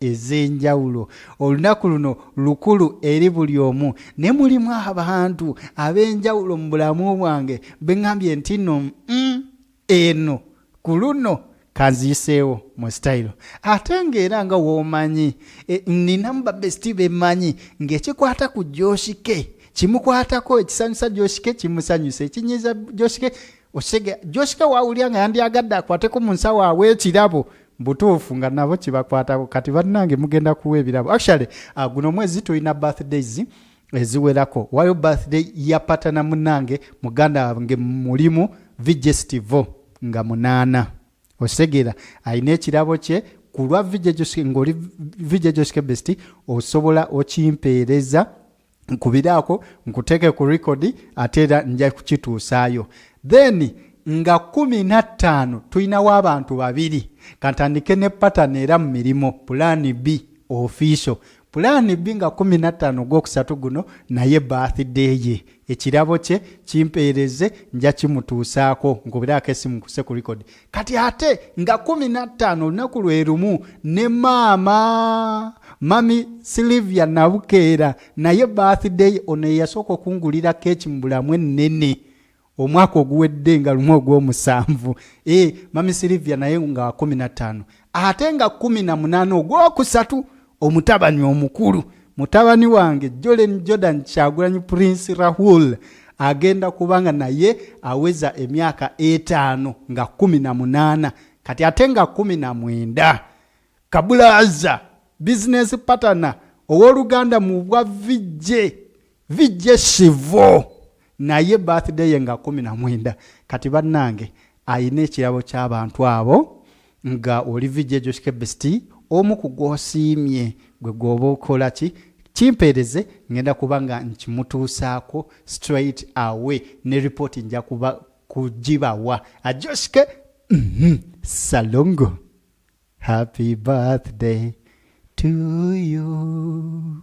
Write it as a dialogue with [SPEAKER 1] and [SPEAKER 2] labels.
[SPEAKER 1] ez'enjawulo olunaku luno lukulu eri buli omu ne mulimu abantu ab'enjawulo mu bulamu bwange beŋambye nti no mm, eno ku luno kanziyiseewo mu sitayiro ate ng'era nga woomanyi e, ninamu babesiti bemanyi ng'ekikwata ku joshike kimukwatako ekisanyusa joshike kimusanyusa ekinyiza joshike osege joshike wawulira nga yandyagadde akwateko mu nsawo awo ekirabo butuufu nga nabo kibakwatako kati bannange mugenda kuwa ebirabo actually uh, guno omwezi tulina birthdays eziwerako wayo birthday yapatana munange muganda wange mulimu vigestivo nga munaana osegeera alina ekirabo kye ku lwa ngaoli vigejosike besti osobola okimpeereza nkubiraako nkuteeke ku rekodi ate era nja kukituusaayo then nga kumi na ttaano tulinawo abantu babiri kantandike ne patani era mu mirimu pulaani b ofiiso pulaani b nga kumi na ttaano ogwokusatu guno naye bathday ye ekirabo kye kimpeereze nja kimutuusaako nkubiraako esimu kuse ku rekodi kati ate nga kumi na ttaano olunaku lwe lumu ne maama mami silivia nabukeera naye birthday ono eyasooka okungulira keeki mu bulamu ennene omwaka oguwedde nga lumu ogw'omusanvu e mami silivia naye nga kumi na ttaano ate nga kumi na munaana ogwokusatu omutabani omukulu mutabani wange jolen jordan kyagulanyi prince rahul agenda kubanga naye aweza emyaka etaano nga kumi na munaana kati ate nga kumi na mwenda kabulaza bizinesi patana ow'oluganda mu bwa vijje vijje sivo naye birthday ye nga kumi na mwenda kati bannange alina ekirabo ky'abantu abo nga oli vijje joshkebesti omu ku gwosiimye gwe gwoba okola ki kimpeereze ngenda kuba nga nkimutuusaako straight away ne ripooti nja kuba kugibawa ajoshke mhm, salongo happy birthday to you